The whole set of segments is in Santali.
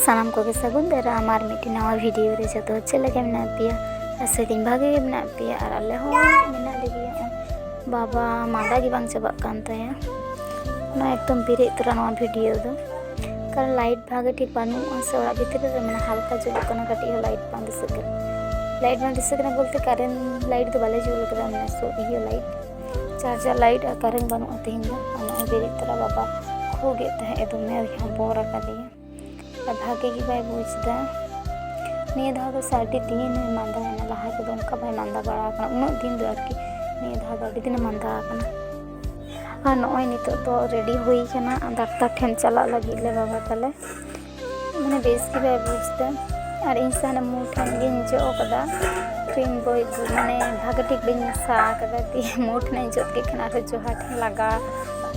ᱥᱟᱱᱟᱢ ᱠᱚᱜᱮ ᱥᱟᱹᱜᱩᱱ ᱫᱟᱨᱟᱢ ᱟᱨ ᱢᱤᱫᱴᱤᱡ ᱱᱟᱣᱟ ᱵᱷᱤᱰᱤᱭᱳ ᱨᱮ ᱡᱚᱛᱚ ᱦᱚᱲ ᱪᱮᱫ ᱞᱮᱠᱟ ᱢᱮᱱᱟᱜ ᱯᱮᱭᱟ ᱟᱥᱟᱭᱫᱟᱹᱧ ᱵᱷᱟᱜᱮ ᱜᱮ ᱢᱮᱱᱟᱜ ᱯᱮᱭᱟ ᱟᱨ ᱟᱞᱮ ᱦᱚᱸ ᱢᱮᱱᱟᱜ ᱞᱮᱜᱮᱭᱟ ᱵᱟᱵᱟ ᱢᱟᱫᱟ ᱜᱮ ᱵᱟᱝ ᱪᱟᱵᱟᱜ ᱠᱟᱱ ᱛᱟᱭᱟ ᱚᱱᱟ ᱮᱠᱫᱚᱢ ᱵᱮᱨᱮᱫ ᱛᱚᱨᱟ ᱱᱚᱣᱟ ᱵᱷᱤᱰᱤᱭᱳ ᱫᱚ ᱠᱟᱨᱚᱱ ᱞᱟᱭᱤᱴ ᱵᱷᱟᱜᱮ ᱴᱷᱤᱠ ᱵᱟᱹᱱᱩᱜᱼᱟ ᱥᱮ ᱚᱲᱟᱜ ᱵᱷᱤᱛᱨᱤ ᱨᱮ ᱢᱟᱱᱮ ᱦᱟᱞᱠᱟ ᱡᱩᱞᱩᱜ ᱠᱟᱱᱟ ᱠᱟᱹᱴᱤᱡ ᱦᱚᱸ ᱞᱟᱭᱤᱴ ᱵᱟᱝ ᱫᱤᱥᱟᱹᱜ ᱠᱟᱱᱟ ᱞᱟᱭᱤᱴ ᱵᱟᱝ ᱫᱤᱥᱟᱹᱜ ᱠᱟᱱᱟ ᱵᱚᱞᱛᱮ ᱠᱟᱨᱮᱱᱴ ᱞᱟᱭᱤᱴ ᱫᱚ ᱵᱟᱞᱮ ᱡᱩᱞ ᱠᱟᱫᱟ ᱢᱟᱱᱮ ᱤᱭᱟᱹ ᱞᱟᱭᱤᱴ ᱪᱟᱨᱡᱟᱨ ᱞᱟᱭᱤᱴ ᱟᱨ ᱠᱟᱨᱮᱱᱴ ᱵᱟᱹᱱᱩᱜᱼᱟ ᱛᱮᱦᱮᱧ ᱫᱚ ᱟᱨ ᱱᱚᱜᱼᱚᱭ ᱵᱮᱨᱮᱫ ᱛᱚᱨᱟ ᱵᱟᱵᱟ ᱠᱷᱩᱜᱮᱫ ᱛᱟᱦᱮᱸᱫ ᱮ ᱫᱚᱢᱮ ᱦᱚᱵᱚᱨ ᱟᱠᱟᱫᱮᱭᱟ ᱟᱨ ᱵᱷᱟᱜᱮ ᱜᱮ ᱵᱟᱭ ᱵᱩᱡᱽ ᱮᱫᱟ ᱱᱤᱭᱟᱹ ᱫᱷᱟᱣ ᱫᱚ ᱥᱮ ᱟᱹᱰᱤ ᱫᱤᱱ ᱮ ᱢᱟᱸᱫᱟᱭᱮᱱᱟ ᱞᱟᱦᱟ ᱛᱮᱫᱚ ᱚᱱᱠᱟ ᱵᱟᱭ ᱢᱟᱸᱫᱟ ᱵᱟᱲᱟ ᱟᱠᱟᱱᱟ ᱩᱱᱟᱹᱜ ᱫᱤᱱ ᱫᱚ ᱟᱨᱠᱤ ᱱᱤᱭᱟᱹ ᱫᱷᱟᱣ ᱫᱚ ᱟᱹᱰᱤ ᱫᱤᱱᱮ ᱢᱟᱸᱫᱟ ᱟᱠᱟᱱᱟ ᱟᱨ ᱱᱚᱜᱼᱚᱭ ᱱᱤᱛᱚᱜ ᱫᱚ ᱨᱮᱰᱤ ᱦᱩᱭ ᱠᱟᱱᱟ ᱰᱟᱠᱛᱟᱨ ᱴᱷᱮᱱ ᱪᱟᱞᱟᱜ ᱞᱟᱹᱜᱤᱫ ᱞᱮ ᱵᱟᱵᱟ ᱛᱟᱞᱮ ᱢᱟᱱᱮ ᱵᱮᱥ ᱜᱮ ᱵᱟᱭ ᱵᱩᱡᱽᱫᱟ ᱟᱨ ᱤᱧ ᱥᱟᱦᱟᱱ ᱢᱩ ᱴᱷᱮᱱ ᱜᱤᱧ ᱡᱚᱜ ᱟᱠᱟᱫᱟ ᱠᱨᱤᱢ ᱵᱚᱭ ᱢᱟᱱᱮ ᱵᱷᱟᱜᱮ ᱴᱷᱤᱠ ᱵᱟᱹᱧ ᱢᱮᱥᱟ ᱟᱠᱟᱫᱟ ᱫᱤᱭᱮ ᱢᱩ ᱴᱷᱮᱱᱤᱧ ᱡᱚᱫ ᱠᱮᱫ ᱠᱷᱟᱱ ᱟᱨᱦᱚᱸ ᱡᱚᱦᱟ ᱴᱷᱮᱱ ᱞᱟᱜᱟ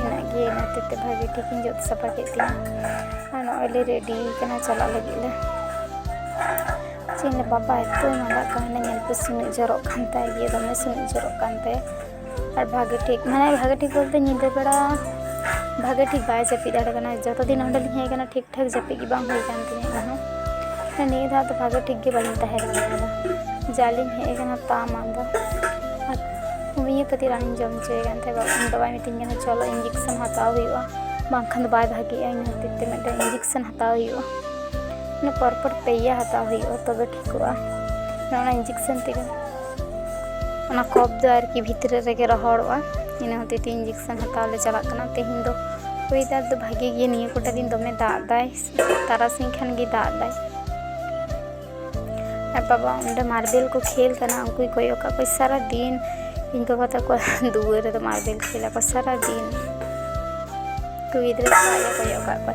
ᱢᱮᱱᱟᱜ ᱜᱮ ᱤᱱᱟᱹ ᱦᱚᱛᱮᱡ ᱛᱮ ᱵᱷᱟᱜᱮ ᱴᱷᱤᱠ ᱤᱧ ᱡᱚᱫ ᱥᱟᱯᱷᱟ ᱠᱮᱫ ᱛᱤᱧᱟᱹ ᱟᱨ ᱱᱚᱜᱼᱚᱭ ᱞᱮ ᱨᱮᱰᱤ ᱠᱟᱱᱟ ᱪᱟᱞᱟᱜ ᱞᱟᱹᱜᱤᱫ ᱞᱮ ᱪᱮᱫ ᱤᱧ ᱞᱟᱹᱭᱟ ᱵᱟᱵᱟ ᱮᱛᱚᱭ ᱢᱟᱸᱫᱟᱜ ᱠᱟᱱᱟ ᱧᱮᱞ ᱯᱮ ᱥᱩᱱᱩᱡ ᱡᱚᱨᱚᱜ ᱠᱟᱱ ᱛᱟᱭᱟ ᱫᱚᱢᱮ ᱥᱩᱱᱩᱡ ᱡᱚᱨᱚᱜ ᱠᱟᱱ ᱛᱟᱭᱟ ᱟᱨ ᱵᱷᱟᱜᱮ ᱴᱷᱤᱠ ᱢᱟᱱᱮ ᱵᱷᱟᱜᱮ ᱴᱷᱤᱠ ᱵᱚᱞᱛᱮ ᱧᱤᱫᱟᱹ ᱵᱮᱲᱟ ᱵᱷᱟᱜᱮ ᱴᱷᱤᱠ ᱵᱟᱭ ᱡᱟᱹᱯᱤᱫ ᱫᱟᱲᱮ ᱠᱟᱱᱟ ᱡᱚᱛᱚ ᱫᱤᱱ ᱚᱸᱰᱮ ᱞᱤᱧ ᱦᱮᱡ ᱠᱟᱱᱟ ᱴᱷᱤᱠ ᱴᱷᱟᱠ ᱡᱟᱹᱯᱤᱫ ᱜᱮ ᱵᱟᱝ ᱦᱩᱭ ᱠᱟᱱ ᱛᱤᱧᱟᱹ ᱚᱱᱟ ᱦᱚᱸ ᱱᱤᱭᱟᱹ ᱫᱷᱟᱣ ᱫᱚ ᱵᱷᱟᱜᱮ ᱴᱷᱤᱠ ᱜᱮ ᱵᱟᱹᱞᱤᱧ ᱛᱟᱦᱮᱸ ᱫᱟᱲᱮᱭᱟᱫᱟ ᱡᱟ ᱞᱤᱧ ᱦᱮᱡ ᱠᱟᱱᱟ ᱛᱟ ᱢᱟᱸᱫᱟ ᱟᱨ ᱦᱳᱢᱤᱭᱳᱯᱮᱛᱷᱤ ᱨᱟᱱᱤᱧ ᱡᱚᱢ ᱦᱚᱪᱚᱭᱮ ᱠᱟᱱ ᱛᱟᱦᱮᱸᱫ ᱵᱟᱵᱟ ᱤᱧ ᱵᱟᱵᱟᱭ ᱢᱤᱛᱟᱹᱧ ᱠᱟᱱᱟ ᱪᱚᱞᱚ ᱤᱧᱡᱮᱠᱥᱮᱱ ᱦᱟᱛᱟᱣ ᱦᱩᱭᱩᱜᱼᱟ ᱵᱟᱝᱠᱷᱟᱱ ᱫᱚ ᱵᱟᱭ ᱵᱷᱟᱜᱮᱜᱼᱟ ᱤᱧ ᱠᱷᱟᱹᱛᱤᱨ ᱛᱮ ᱢᱤᱫᱴᱮᱱ ᱤᱧᱡᱮᱠᱥᱮᱱ ᱦᱟᱛᱟᱣ ᱦᱩᱭᱩᱜᱼᱟ ᱢᱟᱱᱮ ᱯᱚᱨ ᱯᱚᱨ ᱯᱮᱭᱟ ᱦᱟᱛᱟᱣ ᱦᱩᱭᱩᱜᱼᱟ ᱛᱚᱵᱮ ᱴᱷᱤᱠᱚᱜᱼᱟ ᱚᱱᱟ ᱤᱧᱡᱮᱠᱥᱮᱱ ᱛᱮᱜᱮ ᱚᱱᱟ ᱠᱚᱯ ᱫᱚ ᱟᱨᱠᱤ ᱵᱷᱤᱛᱨᱤ ᱨᱮᱜᱮ ᱨᱚᱦᱚᱲᱚᱜᱼᱟ ᱤᱱᱟᱹ ᱦᱚᱛᱮᱡ ᱛᱮ ᱤᱧᱡᱮᱠᱥᱚᱱ ᱦᱟᱛᱟᱣ ᱞᱮ ᱪᱟᱞᱟᱜ ᱠᱟᱱᱟ ᱛᱮᱦᱮᱧ ᱫᱚ ᱚᱭᱮᱫᱟᱨ ᱫᱚ ᱵᱷᱟᱜᱮ ᱜᱮ ᱱᱤᱭᱟᱹ ᱠᱚᱴᱟ ᱫᱤᱱ ᱫᱚᱢᱮ ᱫᱟᱜ ᱫᱟᱭ ᱛᱟᱨᱟᱥᱤᱧ ᱠᱷᱟᱱ ᱜᱮ ᱫᱟᱜ ᱫᱟᱭ ᱟᱨ ᱵᱟᱵᱟ ᱚᱸᱰᱮ ᱢᱟᱨᱵᱮᱞ ᱠᱚ ᱠᱷᱮᱞ ᱠᱟᱱᱟ ᱩᱱᱠᱩᱭ ᱠᱚᱭᱚᱜ ᱠᱟᱜ ᱠᱚᱣᱟ ᱥᱟᱨᱟ ᱫᱤᱱ ᱤᱧ ᱵᱟᱵᱟ ᱛᱟᱠᱚ ᱫᱩᱣᱟᱹᱨ ᱨᱮᱫᱚ ᱢᱟᱨᱵᱮᱞ ᱠᱷᱮᱞ ᱟᱠᱚ ᱥᱟᱨᱟ ᱫᱤᱱ ᱩᱱᱠᱩ ᱜᱤᱫᱽᱨᱟᱹ ᱠᱚ ᱠᱚᱭᱚᱜ ᱠᱟᱜ ᱠᱚᱣᱟ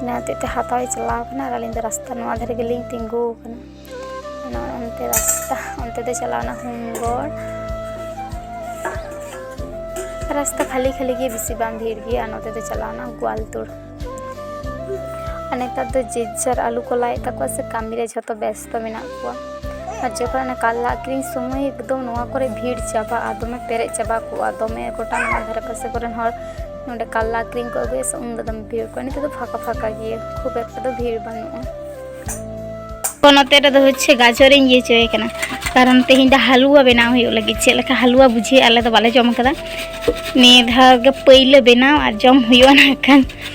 ᱚᱱᱟ ᱦᱚᱛᱮᱡ ᱛᱮ ᱦᱟᱛᱟᱣ ᱪᱟᱞᱟᱣ ᱠᱟᱱᱟ ᱟᱨ ᱟᱹᱞᱤᱧ ᱫᱚ ᱨᱟᱥᱛᱟ ᱱᱚᱣᱟ ᱫᱷᱟᱨᱮ ᱜᱮᱞᱤᱧ ᱛᱤᱸᱜᱩ ᱠᱟᱱᱟ ᱚᱱᱟ ᱚᱱᱛᱮ ᱨᱟᱥᱛᱟ ᱚᱱᱛᱮ ᱫᱚ ᱪᱟᱞᱟᱣᱱᱟ ᱦᱩᱢᱜᱚᱲ ᱨᱟᱥᱛᱟ ᱠᱷᱟᱹᱞᱤ ᱠᱷᱟᱹᱞᱤ ᱜᱮ ᱵᱮᱥᱤ ᱵᱟᱝ ᱵᱷᱤᱲ ᱜᱮᱭᱟ ᱱᱚᱛᱮ ᱫᱚ ᱪᱟᱞᱟᱣᱱᱟ ᱜᱳᱣᱟᱞᱛᱳᱲ ᱟᱨ ᱱᱮᱛᱟᱨ ᱫᱚ ᱡᱮ ᱡᱟᱨ ᱟᱞᱩ ᱠᱚ ᱞᱟᱭᱮᱫ ᱛᱟᱠᱚᱣᱟ ᱥᱮ ᱠᱟᱹᱢᱤ ᱨᱮ ᱡᱷᱚᱛᱚ ᱵᱮᱥ ᱛᱚ ᱢᱮᱱᱟᱜ ᱠᱚᱣᱟ ᱟᱨ ᱡᱚᱠᱷᱚᱱ ᱚᱱᱟ ᱠᱟᱨᱞᱟ ᱟᱹᱠᱷᱨᱤᱧ ᱥᱚᱢᱚᱭ ᱮᱠᱫᱚᱢ ᱱᱚᱣᱟ ᱠᱚᱨᱮ ᱵᱷᱤᱲ ᱪᱟᱵᱟᱜᱼᱟ ᱫᱚᱢᱮ ᱯᱮᱨᱮᱡ ᱪᱟᱵᱟ ᱠᱚᱜᱼᱟ ᱫᱚᱢᱮ ᱜᱚᱴᱟ ᱱᱚᱣᱟ ᱫᱷᱟᱨᱮ ᱯᱟᱥᱮ ᱠᱚᱨᱮᱱ ᱦᱚᱲ ᱱᱚᱰᱮ ᱠᱟᱨᱞᱟ ᱟᱹᱠᱷᱨᱤᱧ ᱠᱚ ᱟᱹᱜᱩᱭᱟ ᱥᱮ ᱩᱱᱫᱚ ᱫᱚᱢᱮ ᱵᱷᱤᱲ ᱠᱚᱜᱼᱟ ᱱᱤᱛᱚᱜ ᱫᱚ ᱯᱷᱟᱸᱠᱟ ᱯᱷᱟᱸᱠᱟ ᱜᱮᱭᱟ ᱠᱷᱩᱵ ᱮᱠᱴᱟ ᱫᱚ ᱵᱷᱤᱲ ᱵᱟᱹᱱᱩᱜᱼᱟ ᱛᱚ ᱱᱚᱛᱮ ᱨᱮᱫᱚ ᱦᱚᱪᱪᱷᱮ ᱜᱟᱡᱚᱨᱤᱧ ᱤᱭᱟᱹ ᱦᱚᱪᱚᱭᱮ ᱠᱟᱱᱟ ᱠᱟᱨᱚᱱ ᱛᱮᱦᱮᱧ ᱫᱚ ᱦᱟᱞᱩᱣᱟ ᱵᱮᱱᱟᱣ ᱦᱩᱭᱩᱜ ᱞᱟᱹᱜᱤᱫ ᱪᱮᱫ ᱞᱮᱠᱟ ᱦᱟᱞᱩᱣᱟ ᱵᱩᱡᱷᱟᱹᱜᱼᱟ ᱟᱞᱮ ᱫᱚ ᱵᱟᱞᱮ ᱡᱚᱢ ᱠᱟᱫᱟ ᱱᱤᱭᱟᱹ ᱫᱷᱟᱣ ᱜᱮ ᱯᱟᱹᱭᱞᱟᱹ ᱵᱮᱱᱟᱣ ᱟᱨ ᱡᱚᱢ ᱦᱩᱭᱩᱜᱼᱟ ᱱᱟᱜ ᱠᱷᱟᱱ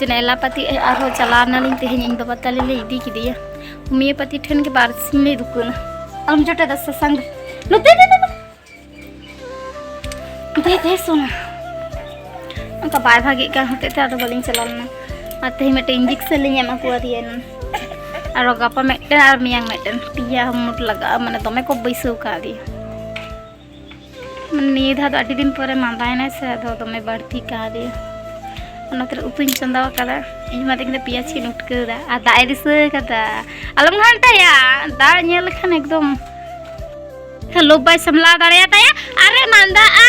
ᱡᱮᱱᱟ ᱮᱞᱟᱯᱟᱛᱤ ᱟᱨᱦᱚᱸ ᱪᱟᱞᱟᱣ ᱱᱟᱞᱤᱧ ᱛᱮᱦᱮᱧ ᱤᱧ ᱵᱟᱵᱟ ᱛᱟᱞᱮ ᱞᱮ ᱤᱫᱤ ᱠᱮᱫᱮᱭᱟ ᱦᱳᱢᱤᱭᱳᱯᱟᱛᱤ ᱴᱷᱮᱱ ᱜᱮ ᱵᱟᱨ ᱥᱤᱧ ᱞᱮ ᱫᱩᱠᱟᱹᱱᱟ ᱟᱢ ᱡᱚᱴᱟ ᱫᱟ ᱥᱟᱥᱟᱝ ᱱᱚᱛᱮ ᱫᱮ ᱫᱮ ᱫᱮ ᱫᱮ ᱥᱚᱱᱟ ᱚᱱᱠᱟ ᱵᱟᱭ ᱵᱷᱟᱜᱮᱜ ᱠᱟᱱ ᱦᱚᱛᱮᱡ ᱛᱮ ᱟᱫᱚ ᱵᱟᱹᱞᱤᱧ ᱪᱟᱞᱟᱣ ᱞᱮᱱᱟ ᱟᱨ ᱛᱮᱦᱮᱧ ᱢᱤᱫᱴᱮᱱ ᱤᱧᱡᱮᱠᱥᱚᱱ ᱞᱤᱧ ᱮᱢᱟ ᱠᱚᱣᱟᱫᱮᱭᱟ ᱮᱱᱟᱱ ᱟᱨᱚ ᱜᱟᱯᱟ ᱢᱤᱫᱴᱮᱱ ᱟᱨ ᱢᱮᱭᱟᱝ ᱢᱤᱫᱴᱮᱱ ᱯᱮᱭᱟ ᱢᱩᱴ ᱞᱟᱜᱟᱜᱼᱟ ᱢᱟᱱᱮ ᱫᱚᱢᱮ ᱠᱚ ᱵᱟᱹᱭᱥᱟᱹᱣ ᱠᱟᱣᱫᱮᱭᱟ ᱱᱤᱭᱟᱹ ᱫᱷᱟᱣ ᱫᱚ ᱟᱹᱰᱤ ᱫᱤᱱ ᱯᱚᱨᱮ ᱢᱟᱸᱫᱟᱭᱮᱱᱟᱭ ᱥᱮ ᱟᱫᱚ ᱫᱚᱢᱮ ᱵᱟᱹᱲᱛᱤ ᱠᱟᱣᱫᱮᱭᱟ ᱚᱱᱟᱛᱮ ᱩᱛᱩᱧ ᱪᱚᱸᱫᱟ ᱟᱠᱟᱫᱟ ᱤᱧ ᱢᱟ ᱛᱮᱦᱮᱧ ᱫᱚ ᱯᱮᱸᱭᱟᱡᱽ ᱠᱤᱱ ᱩᱴᱠᱟᱹᱣᱫᱟ ᱟᱨ ᱫᱟᱜ ᱮ ᱫᱤᱥᱟᱹ ᱟᱠᱟᱫᱟ ᱟᱞᱚᱢ ᱜᱷᱟᱱᱴᱟᱭᱟ ᱫᱟᱜ ᱧᱮᱞ ᱞᱮᱠᱷᱟᱱ ᱮᱠᱫᱚᱢ ᱞᱳᱵ ᱵᱟᱭ ᱥᱟᱢᱞᱟᱣ ᱫᱟᱲᱮᱭᱟᱛᱟᱭᱟ ᱟᱨᱮ ᱢᱟᱸᱫᱟᱜᱼᱟ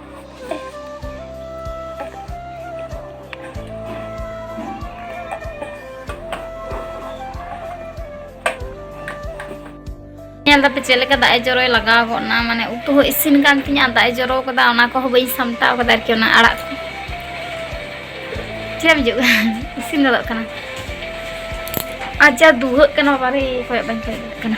ᱧᱮᱞ ᱫᱟᱯᱮ ᱪᱮᱫ ᱞᱮᱠᱟ ᱫᱟᱜ ᱮ ᱡᱚᱨᱚᱭ ᱞᱟᱜᱟᱣ ᱜᱚᱫ ᱱᱟ ᱢᱟᱱᱮ ᱩᱛᱩ ᱦᱚᱸ ᱤᱥᱤᱱ ᱠᱟᱱ ᱛᱤᱧᱟ ᱫᱟᱜ ᱮ ᱡᱚᱨᱚ ᱠᱟᱫᱟ ᱚᱱᱟ ᱠᱚᱦᱚᱸ ᱵᱟᱹᱧ ᱥᱟᱢᱴᱟᱣ ᱠᱟᱫᱟ ᱟᱨᱠᱤ ᱚᱱᱟ ᱟᱲᱟᱜ ᱠᱚ ᱪᱮᱫ ᱦᱤᱡᱩᱜ ᱠᱟᱱᱟ ᱤᱥᱤᱱ ᱜᱚᱫᱚᱜ ᱠᱟᱱᱟ ᱟᱡᱟ ᱫᱩᱦᱟᱹᱜ ᱠᱟᱱᱟ ᱵᱟᱨᱮ ᱠᱚᱭᱚᱜ ᱵᱟᱹᱧ ᱠᱚᱭᱚᱜ ᱠᱟᱱᱟ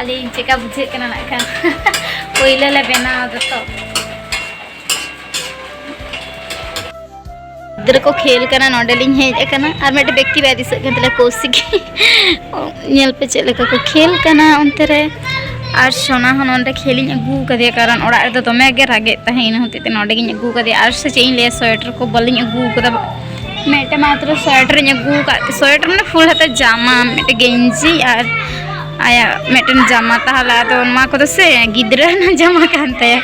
ᱟᱹᱞᱤᱧ ᱪᱮᱠᱟ ᱵᱩᱡᱷᱟᱹᱜ ᱠᱟᱱᱟ ᱱᱟᱜ ᱠᱷᱟᱱ ᱯᱳᱭᱞᱳ ᱞᱮ ᱵᱮᱱᱟᱣ ᱫᱚᱛᱚ ᱜᱤᱫᱽᱨᱟᱹ ᱠᱚ ᱠᱷᱮᱞ ᱠᱟᱱᱟ ᱱᱚᱰᱮ ᱞᱤᱧ ᱦᱮᱡ ᱟᱠᱟᱱᱟ ᱟᱨ ᱢᱤᱫᱴᱮᱱ ᱵᱮᱠᱛᱤ ᱵᱟᱭ ᱫᱤᱥᱟᱹᱜ ᱠᱟᱱ ᱛᱟᱞᱮ ᱠᱳᱥᱤᱠ ᱧᱮᱞ ᱯᱮ ᱪᱮᱫ ᱞᱮᱠᱟ ᱠᱚ ᱠᱷᱮᱞ ᱠᱟᱱᱟ ᱚᱱᱛᱮ ᱨᱮ ᱟᱨ ᱥᱚᱱᱟ ᱦᱚᱸ ᱱᱚᱰᱮ ᱠᱷᱮᱞᱤᱧ ᱟᱹᱜᱩ ᱟᱠᱟᱫᱮᱭᱟ ᱠᱟᱨᱚᱱ ᱚᱲᱟᱜ ᱨᱮᱫᱚ ᱫᱚᱢᱮ ᱜᱮ ᱨᱟᱜᱮᱫ ᱛᱟᱦᱮᱸ ᱤᱱᱟᱹ ᱦᱚᱛᱮᱡ ᱛᱮ ᱱᱚᱰᱮ ᱜᱤᱧ ᱟᱹᱜᱩ ᱟᱠᱟᱫᱮᱭᱟ ᱟᱨ ᱥᱮ ᱪᱮᱫ ᱤᱧ ᱞᱟᱹᱭᱟ ᱥᱳᱭᱮᱴᱟᱨ ᱠᱚ ᱵᱟᱹᱞᱤᱧ ᱟᱹᱜᱩ ᱟᱠᱟᱫᱟ ᱢᱤᱫᱴᱮᱱ ᱢᱟᱛᱨᱚ ᱥᱳᱭᱮᱴᱟᱨ ᱤᱧ ᱟᱹᱜᱩ ᱟᱠᱟᱫ ᱥᱳᱭᱮᱴᱟᱨ ᱢᱟᱱᱮ ᱯᱷᱩᱞ ᱦᱟᱛᱟ ᱡᱟᱢᱟ ᱢᱤᱫᱴᱮᱱ ᱜᱮᱧᱡᱤ ᱟᱨ ᱟᱭᱟᱜ ᱢᱤᱫᱴᱮᱱ ᱡᱟᱢᱟ ᱛᱟᱦᱚᱞᱮ ᱟᱫᱚ ᱱᱚᱣᱟ ᱠᱚᱫᱚ ᱥᱮ ᱜᱤᱫᱽᱨᱟᱹ ᱨᱮᱱᱟᱜ ᱡᱟᱢᱟ ᱠᱟᱱ ᱛᱟᱭᱟ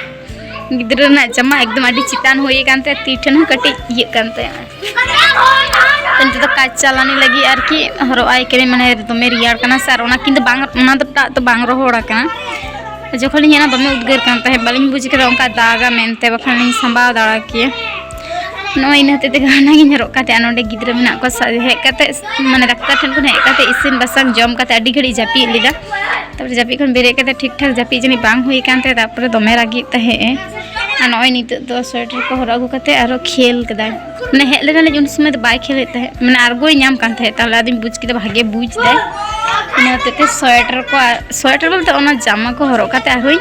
ᱜᱤᱫᱽᱨᱟᱹ ᱨᱮᱱᱟᱜ ᱡᱟᱢᱟ ᱮᱠᱫᱚᱢ ᱟᱹᱰᱤ ᱪᱮᱛᱟᱱ ᱦᱩᱭ ᱟᱠᱟᱱ ᱛᱟᱭᱟ ᱛᱤ ᱴᱷᱮᱱ ᱦᱚᱸ ᱠᱟᱹᱴᱤᱡ ᱤᱭᱟᱹᱜ ᱠᱟᱱ ᱛᱟᱭᱟ ᱱᱤᱛᱚᱜ ᱫᱚ ᱠᱟᱡᱽ ᱪᱟᱞᱟᱱᱤ ᱞᱟᱹᱜᱤᱫ ᱟᱨᱠᱤ ᱦᱚᱨᱚᱜ ᱟᱭ ᱠᱟᱹᱱᱟᱹᱧ ᱢᱟᱱᱮ ᱫᱚᱢᱮ ᱨᱮᱭᱟᱲ ᱠᱟᱱᱟ ᱥᱮ ᱟᱨ ᱚᱱᱟ ᱠᱤᱱᱛᱩ ᱵᱟᱝ ᱚᱱᱟ ᱫᱚ ᱴᱟᱜ ᱫᱚ ᱵᱟᱝ ᱨᱚᱦᱚᱲ ᱟᱠᱟᱱᱟ ᱡᱚᱠᱷᱚᱱ ᱤᱧ ᱚᱱᱟ ᱫᱚᱢᱮ ᱩᱫᱽᱜᱟᱹᱨ ᱠᱟᱱ ᱛᱟᱦᱮᱸᱫ ᱵᱟᱹᱞᱤᱧ ᱵᱩᱡᱽ ᱠᱮᱫᱟ ᱚᱱᱠᱟ ᱫᱟᱜᱟ ᱢᱮᱱᱛᱮ ᱵᱟᱠᱷᱟᱱ ᱞᱤᱧ ᱥᱟᱢᱵᱟᱣ ᱫᱟᱲᱮ ᱠᱮᱭᱟ ᱱᱚᱜᱼᱚᱭ ᱤᱱᱟᱹ ᱦᱚᱛᱮᱡ ᱛᱮᱜᱮ ᱚᱱᱟᱜᱤᱧ ᱦᱚᱨᱚᱜ ᱠᱟᱛᱮ ᱟᱨ ᱱᱚᱰᱮ ᱜᱤᱫᱽᱨᱟᱹ ᱢᱮᱱᱟᱜ ᱠᱚᱣᱟ ᱦᱮᱡ ᱠᱟᱛᱮ ᱢᱟᱱᱮ ᱰᱟᱠᱛᱟᱨ ᱴᱷᱮᱱ ᱠᱷᱚᱱ ᱦᱮᱡ ᱠᱟᱛᱮ ᱤᱥᱤᱱ ᱵᱟᱥᱟᱝ ᱡᱚᱢ ᱠᱟᱛᱮ ᱟᱹᱰᱤ ᱜᱷᱟᱹᱲᱤᱡ ᱡᱟᱹᱯᱤᱫ ᱞᱮᱫᱟ ᱛᱟᱨᱯᱚᱨᱮ ᱡᱟᱹᱯᱤᱫ ᱠᱷᱚᱱ ᱵᱮᱨᱮᱫ ᱠᱟᱛᱮ ᱴᱷᱤᱠ ᱴᱷᱟᱠ ᱡᱟᱹᱯᱤᱫ ᱡᱟᱹᱱᱤᱡ ᱵᱟᱝ ᱦᱩᱭ ᱟᱠᱟᱱ ᱛᱟᱭᱟ ᱛᱟᱨᱯᱚᱨᱮ ᱫᱚᱢᱮ ᱨᱟᱹᱜᱤᱜ ᱛᱟᱦᱮᱸᱜ ᱮ ᱟᱨ ᱱᱚᱜᱼᱚᱭ ᱱᱤᱛᱚᱜ ᱫᱚ ᱥᱳᱭᱮᱴᱟᱨ ᱠᱚ ᱦᱚᱨᱚᱜ ᱟᱹᱜᱩ ᱠᱟᱛᱮ ᱟᱨᱚ ᱠᱷᱮᱞ ᱠᱮᱫᱟᱭ ᱢᱟᱱᱮ ᱦᱮᱡ ᱞᱮᱱᱟᱞᱤᱧ ᱩᱱ ᱥᱚᱢᱚᱭ ᱫᱚ ᱵᱟᱭ ᱠᱷᱮᱞᱮᱫ ᱛᱟᱦᱮᱸᱫ ᱢᱟᱱᱮ ᱟᱨᱜᱚᱭ ᱧᱟᱢ ᱠᱟᱱ ᱛᱟᱦᱮᱸᱫ ᱛᱟᱦᱚᱞᱮ ᱟᱫᱚᱧ ᱵᱩᱡᱽ ᱠᱮᱫᱟ ᱵᱷᱟᱜᱮ ᱵᱩᱡᱽ ᱫᱟᱭ ᱤᱱᱟᱹ ᱦᱚᱛᱮᱡ ᱛᱮ ᱥᱳᱭᱮᱴᱟᱨ ᱠᱚ ᱥᱳᱭᱮᱴᱟᱨ ᱵᱚᱞᱛᱮ ᱚᱱᱟ ᱡᱟᱢᱟ ᱠᱚ ᱦᱚᱨᱚᱜ ᱠᱟᱛᱮ ᱟᱨᱦᱚᱸᱧ